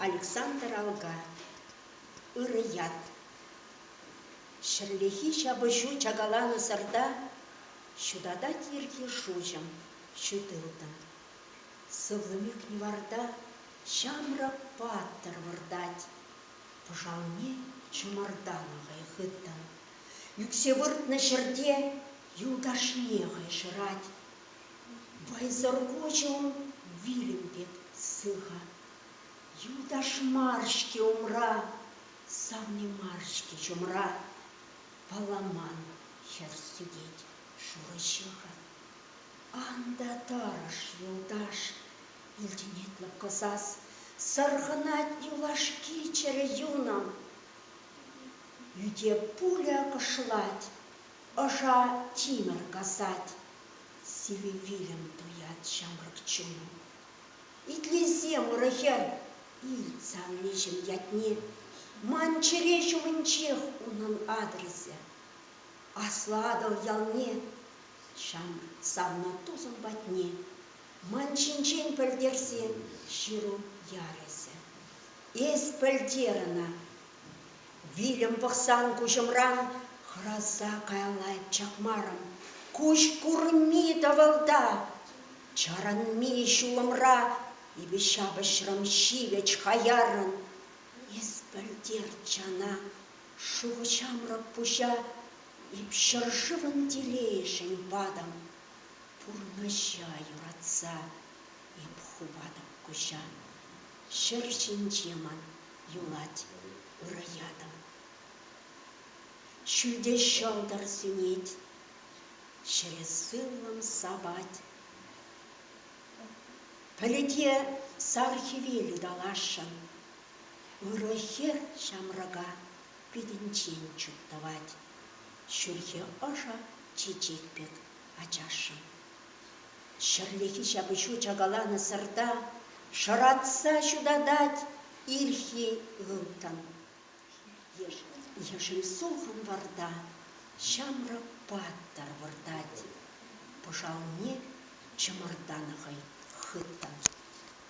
Александр Алга ырӑ ят. Ҫӗрлехи ҫапӑҫу чакаланӑсӑрта ҫутатать йӗрке шуҫӑм ҫутылтӑм. Сывлӑм ӳкнӗ варта ҫамрӑк паттӑр выртать. Пӑшалне чӑмӑртанӑ хӑй хыттӑн Ӳксе выртнӑ ҫӗрте юлташне хӑйшӑрать. Вӑйсӑр куҫӗ ун вилӗм пек сыхӑ. Юлташ мар-ҫке умра, савни мар-ҫке чумра. Паламан хӗр сӳтет шурӑ ҫыхӑ. Ан та тӑрӑш, юлташ, илтӗнет лӑпкӑ сас. Сӑрхӑнать юлашки чӗрӗ юнӑм. Ӳте пуля кӑшлать, ӑша тимӗр касать, сивӗ вилӗм туять ҫамрӑк чуну. Итлесе мурӗ хӗр, илт савниҫӗм ятне, Ман чӗре ҫумӗнчех унӑн адресӗ. Аслӑ Атӑл ялне, ҫамрӑк савна тусӑм патне, Ман ҫинчен пӗлтерсе ҫыру яресӗ. Эс пӗлтер ӑна. Вилӗм пӑхсан куҫӑмран хӑраса каялла чакмарӑм. Куҫ курми тӑвӑлта, чарӑнми ҫулӑмра эпӗ ҫапӑҫрӑм ҫивӗч хаяррӑн. Эс пӗлтер, чана, шухӑ ҫамрӑк пуҫа эп ҫӗршывӑн телейшӗн патӑм. Пурнӑҫа юратса эп хупатӑп куҫа. Ҫӗр ҫинче ман юлать ырӑ ятӑм. Ҫӳлте ҫӑлтӑр сӳнет, ҫӗре сывлӑм сапать. Пӗлӗте сар хӗвел ыталасшӑн, ырӑ хӗр ҫамрӑка питӗнчен чуптӑвать. Ҫӳлхе ӑшӑ чечек пек ачашшӑн. Ҫӗрлехи ҫапӑҫу чакаланӑсӑрта шӑратса ҫутатать ирхи ылтӑн. Ешӗл сулхӑн варта ҫамрӑк паттӑр выртать. Пӑшалне чӑмӑртанӑ хӑй хыттӑн.